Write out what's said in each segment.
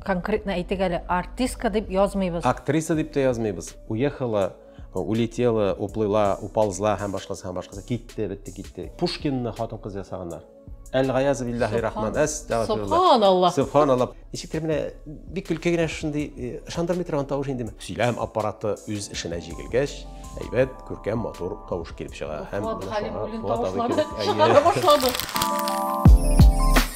Конкретно әйтик әле, артистка дип язмыйбыз. Актриса дип тә язмыйбыз. Уехала, улетела, уплыла, уползла һәм башкасы һәм башкасы. Китте, бетте, китте. Пушкинны хатын-кыз ясаганнар. Әл-Гаяз биллаһи рахман. Субханаллах. Субханаллах. Ничектер менә бик көлке генә шундый ышандырмый торган тавыш инде. Сөйләм аппараты үз эшенә җигелгәч, әйбәт, күркәм, матур тавыш килеп чыга. Һәм Халимуллин тавышлары чыгара башлады.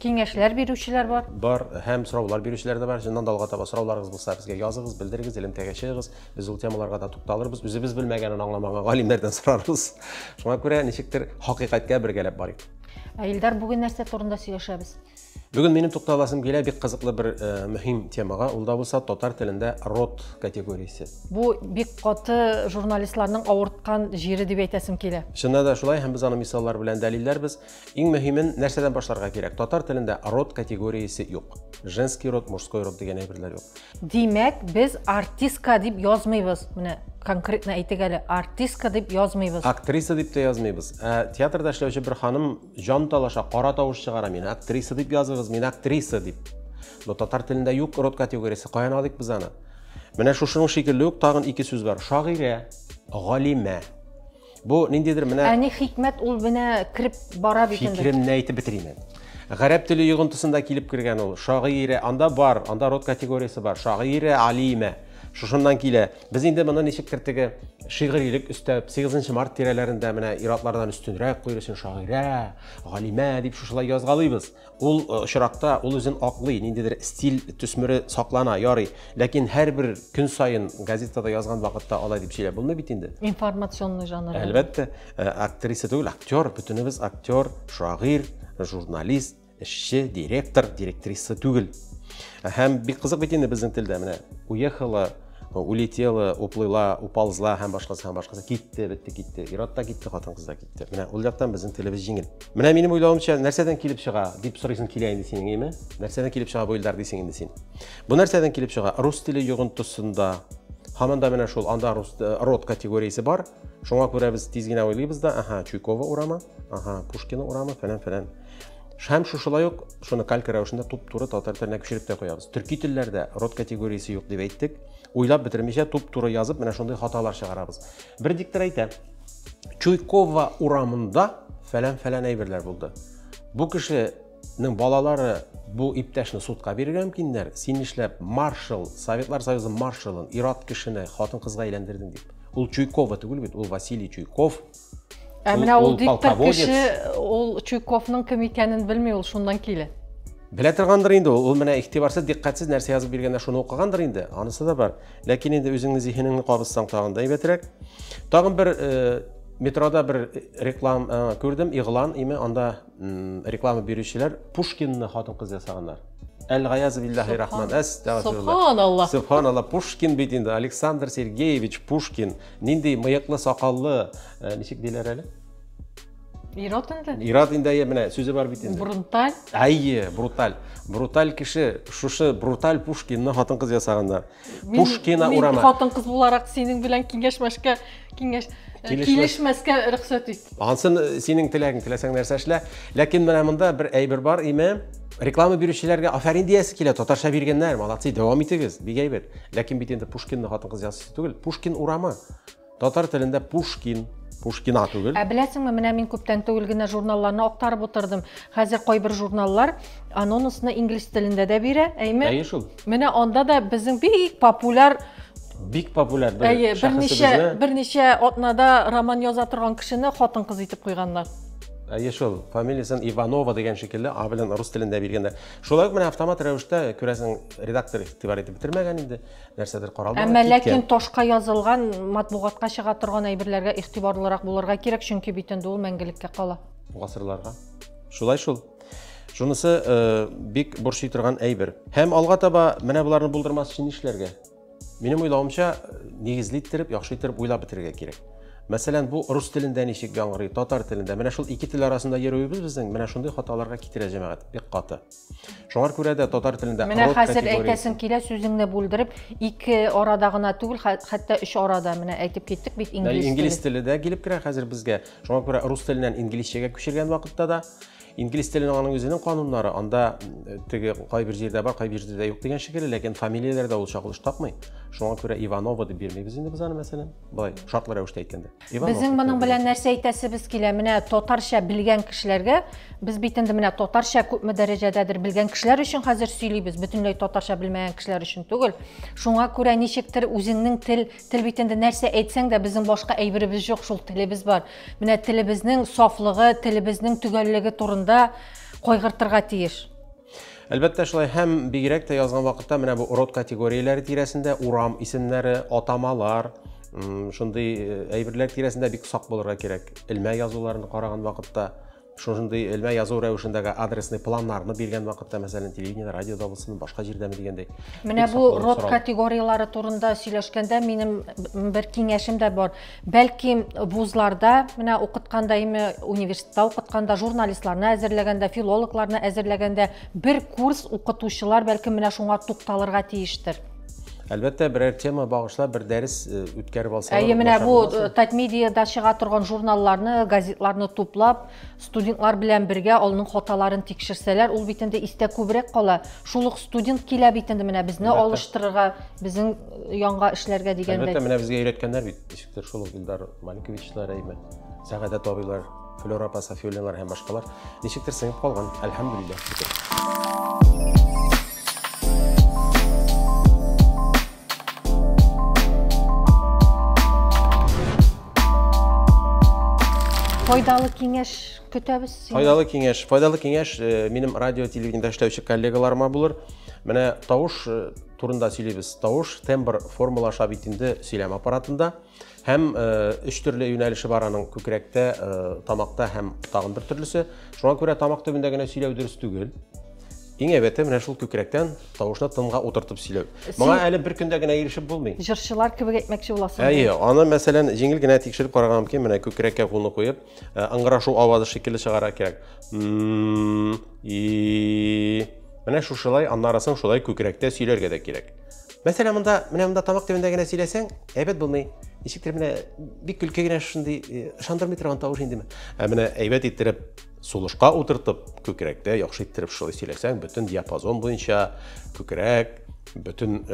Киңәшләр бирүчеләр бар. Бар һәм сораулар бирүчеләр дә бар. Чыннан да алга таба сорауларыгыз булса, безгә языгыз, белдерегез, элемтәгә чыгыгыз. Без ул темаларга да тукталырбыз. Үзебез белмәгәнен аңламаган галимнәрдән сорарбыз. Шуңа күрә ничектер хакыйкатькә бергәләп барыйк. Ә Илдар, бүген нәрсә турында сөйләшәбез? Бүген минем тукталасым килә бик кызыклы бер э, мөһим темага, ул да булса татар телендә род категориясе. Бу бик каты журналистларның авырткан җире дип әйтәсем килә. Чыннан да шулай һәм без аны мисаллар белән дәлилләрбез. Иң мөһимен нәрсәдән башларга кирәк? Татар телендә род категориясе юк. Женский род, мужской род дигән әйберләр юк. Димәк, без артистка дип язмыйбыз. Менә конкретно әйтик әле, артистка дип язмыйбыз. Актриса дип тә язмыйбыз. Ә театрда эшләүче бер ханым җан талаша, кара тавыш чыгара, мин актриса дип языгыз, мин актриса дип. Но татар телендә юк род категориясе, каян алыйк без аны? Менә шушының шикелле үк тагын ике сүз бар. Шагыйрә, галимә. Бу ниндидер менә Ә ни хикмәт ул менә кирип бара бит инде. Фикеремне әйтеп бетерим мин. Гарәп теле йогынтысында килеп кергән ул. Шагыйре, анда бар, анда род категориясе бар. Шагыйре алиме. Шушыннан килә. Без инде моны ничек кертеге шигырилек өстәп, 8 март тирәләрендә менә иратлардан өстенрәк куйрысын шагыйрә, галимә дип шушылай язгалыйбыз. Ул э, очракта ул үзен аклый, ниндидер стиль төсмере саклана, ярый. Ләкин һәрбер көн саен газетада язган вакытта алай дип сөйләп булмый бит инде. Информационный жанр. Әлбәттә, э, актриса түгел, актер, бөтенебез актер, шагыйрь, журналист, эшче, директор, директриса түгел. Һәм бик кызык бит инде безнең телдә менә. Уехала улетела, уплыла, уползла һәм башкасы һәм башкасы китте, бетте, китте. Ират та китте, хатын-кыз да китте. Менә ул яктан безнең телебез җиңел. Менә минем уйлавымча, нәрсәдән килеп чыга, дип сорыйсың килә инде синең, әйме? Нәрсәдән килеп чыга бу илдар дисең инде син. Бу нәрсәдән килеп чыга? Рус теле йогынтысында һаман да менә шул анда рус э, род категориясе бар. Шуңа күрә без тиз генә уйлыйбыз да, аха, Чуйкова урамы, аха, Пушкина урамы, фәлән, фәлән. Һәм шушылай ук шуны калька рәвешендә туп-туры татар теленә күчереп тә куябыз. Төрки телләрдә род категориясе юк дип әйттек. Уйлап бетермичә туп-туры язып, менә шундый хаталар чыгарабыз. Бер диктор әйтә, Чуйкова урамында фәлән-фәлән әйберләр булды. Бу кешенең балалары бу иптәшне судка бирергә мөмкиннәр. Син эшләп маршал, Советлар Союзы маршалын, ират кешене хатын-кызга әйләндердең дип. Ул Чуйкова түгел бит, ул Василий Чуйков. Ә менә ул диктор кеше, ул Чуйковның кем икәнен белми, ул шуннан килә. Белә торгандыр инде ул, ул менә игътибарсыз, дикъкатьсез нәрсә язып биргәндә шуны укыгандыр инде, анысы да бар. Ләкин инде үзеңнең зиһенеңне кабызсаң тагын да әйбәтрәк. Тагын бер э, метрода бер реклам э, күрдем, игълан име, анда реклама бирүчеләр Пушкинны хатын-кыз ясаганнар. Әл-Гаяз биллахи рахман. Субханаллах. Субханаллах. Пушкин бит инде Александр Сергеевич Пушкин. Нинди мыеклы, сакаллы, э, ничек диләр әле? Ират инде. Ират инде әйе, менә сүзе бар бит инде. Бруталь. Әйе, бруталь. Бруталь кеше, шушы бруталь Пушкинны хатын-кыз ясаганда. Пушкина урама. Мин хатын-кыз буларак синең белән киңәшмәшкә, киңәш э, килешмәскә рөхсәт ит. Ансын э, синең теләгең, теләсәң нәрсә эшлә. Ләкин менә монда бер әйбер бар, име? Реклама бирүчеләргә афәрин диясе килә, татарча биргәннәр, молодцы, дәвам итегез, бик әйбәт. Ләкин бит инде Пушкинны хатын-кыз ясыйсы түгел, Пушкин урамы. Татар телендә Пушкин, Пушкина түгел. Ә беләсеңме, менә мин күптән түгел генә журналларны актарып утырдым. Хәзер кайбер журналлар анонусны инглиз телендә дә бирә, әйме? Әйе шул. Менә анда да безнең бик популяр бик популяр бер Әйе, берничә берничә атнада роман яза торган кешене хатын-кыз итеп куйганнар. Әйе шул, фамилиясен Иванова дигән шикелле, а белән рус телендә биргәндә. Шулай ук менә автомат рәвештә, күрәсең, редактор игътибар итеп бетермәгән инде. нәрсәдер каралмаган әмма ләкин ташка язылган матбугатка чыга торган әйберләргә игътибарлырак булырга кирәк чөнки бит инде ул мәңгелеккә кала гасырларга шулай шул шунысы э, бик борчый торган әйбер һәм алга таба менә боларны булдырмас өчен нишләргә минем уйлавымча нигезле иттереп яхшы иттереп уйлап бетерергә кирәк мәсәлән бу рус телендә ничек яңгырый татар телендә менә шул ике тел арасында йөрүебез безнең менә шундый хаталарга китерә җәмәгать бик каты Шуңар күрә дә татар телендә Менә хәзер әйтәсем килә, сүзеңне бүлдереп, ике арада гына түгел, хәтта өч арада менә әйтеп киттек бит инглиз теле. Инглиз теле дә килеп керә хәзер безгә. Шуңа күрә рус теленнән инглизчәгә күчергән вакытта да инглиз теленең аның үзенең кануннары, анда теге кайбер җирдә бар, кайбер җирдә юк дигән шикелле, ләкин фамилияләрдә ул чагылыш тапмый. Шуңа күрә Иванова дип бирмибез инде без аны мәсәлән. Болай шартлы рәвештә әйткәндә. Безнең моның белән нәрсә әйтәсебез килә? Менә татарча белгән кешеләргә без бит инде менә татарча күпме дәрәҗәдәдер белгән кешеләр өчен хәзер сөйлибез, бөтенләй татарча белмәгән кешеләр өчен түгел. Шуңа күрә ничектер үзеңнең тел, тел бит инде нәрсә әйтсәң дә безнең башка әйберебез жоқ, шул телебез бар. Менә телебезнең сафлыгы, телебезнең төгәллеге турында кайгыртырга тиеш. Әлбәттә шулай һәм бигрәк тә язган вакытта менә бу род категорияләре тирәсендә урам исемнәре, атамалар, шундый э, әйберләр тирәсендә бик сак булырга кирәк. Элмә язуларын караган вакытта, шундый элмә язу рәвешендәге адресный планнарны биргән вакытта, мәсәлән, телевидение, радиода булсын, башка җирдәме дигәндәй. Менә бу род категорияләре турында сөйләшкәндә минем бер киңәшем дә бар. Бәлки вузларда, менә укытканда име, университетта укытканда, журналистларны әзерләгәндә, филологларны әзерләгәндә бер курс укытучылар бәлки менә шуңа тукталырга тиештер. Әлбәттә, берәр тема багышлап бер дәрес э, үткәреп алсалар. Әйе, менә бу э, Татмедиада чыга торган журналларны, газетларны туплап, Студентлар белән бергә алның хаталарын тикшерсәләр, ул бит инде истә күбрәк кала. Шул ук студент килә бит инде менә безне Әлбәттә. алыштырырга, безнең э, янга эшләргә дигәндә. Әлбәттә, менә безгә өйрәткәннәр бит. Ничектер шул ук Илдар Маликовичлар, әйме, Сәгадә табыйлар, Флора апа Сафиуллиналар һәм башкалар. Ничектер сыйып калган. Әлхәмдулиллаһ. Файдалы киңәш көтәбез. Файдалы киңәш. Файдалы киңәш э, минем радио телевидениедә эшләүче коллегаларыма булыр. Менә тавыш э, турында сөйлибез. Тавыш тембр формалаша бит инде сөйләм аппаратында. Һәм өч төрле юнәлеше бар аның күкрәктә, тамакта һәм тагын бер төрлесе. Шуңа күрә тамак төбендә генә сөйләү дөрес түгел. Иң әйбәте менә шул күкрәктән тавышны тынга утыртып сөйләү. Моңа әле бер көндә генә ирешеп булмый. Җырчылар кебек әйтмәкче буласың. Әйе, аны мәсәлән җиңел генә тикшереп карарга мөмкин, менә күкрәккә кулны куеп, ыңгырашу авазы шикелле чыгарга кирәк. Менә шушылай, аннары соң шулай күкрәктә сөйләргә дә кирәк. Мәсәлән, монда, менә монда тамак төбендә генә сөйләсәң, әйбәт булмый. Ничектер менә бик көлке генә шундый ышандырмый торган тавыш инде. Ә менә әйбәт иттереп сулышка утыртып, күкрәктә яхшы иттереп шулай сөйләсәң, бөтен диапазон буенча күкрәк, бөтен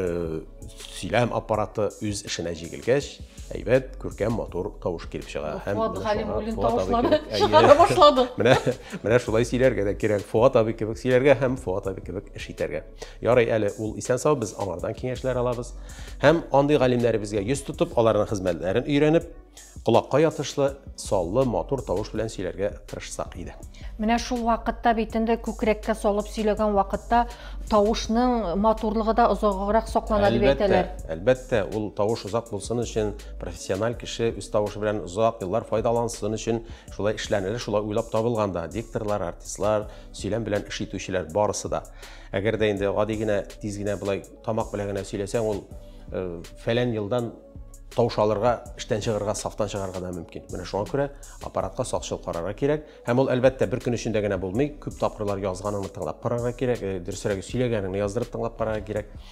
сөйләм аппараты үз эшенә җигелгәч, әйбәт, күркәм, матур тавыш килеп чыга. Һәм Фуат Галимуллин тавышлары чыгара башлады. Менә, менә шулай сөйләргә дә кирәк. Фуат абый кебек сөйләргә һәм Фуат абый кебек эш итәргә. Ярый әле ул исән-сау, без аңардан киңәшләр алабыз. Һәм андый галимнәребезгә йөз тотып, аларның хезмәтләрен өйрәнеп, колакка ятышлы, саллы, матур тавыш белән сөйләргә тырышсак иде. Менә шул вакытта бит инде күкрәккә салып сөйләгән вакытта тавышның матурлыгы да озаграк саклана дип әйтәләр. Әлбәттә, ул тавыш озак булсын өчен, профессиональ кеше үз тавышы белән озак еллар файдалансын өчен шулай эшләнелә, шулай уйлап табылган да. Дикторлар, артистлар, сөйләм белән эш итүчеләр барысы да. Әгәр дә инде гади генә тиз генә болай тамак белән генә сөйләсәң, ул э, фәлән елдан тавыш алырга, эштән чыгарга, сафтан чыгарга да мөмкин. Менә шуңа күрә аппаратка сакчыл карарга кирәк. Һәм ул әлбәттә бер көн эчендә генә булмый. Күп тапкырлар язганыңны тыңлап карарга кирәк, э, дөресрәге сөйләгәнеңне яздырып тыңлап карарга кирәк.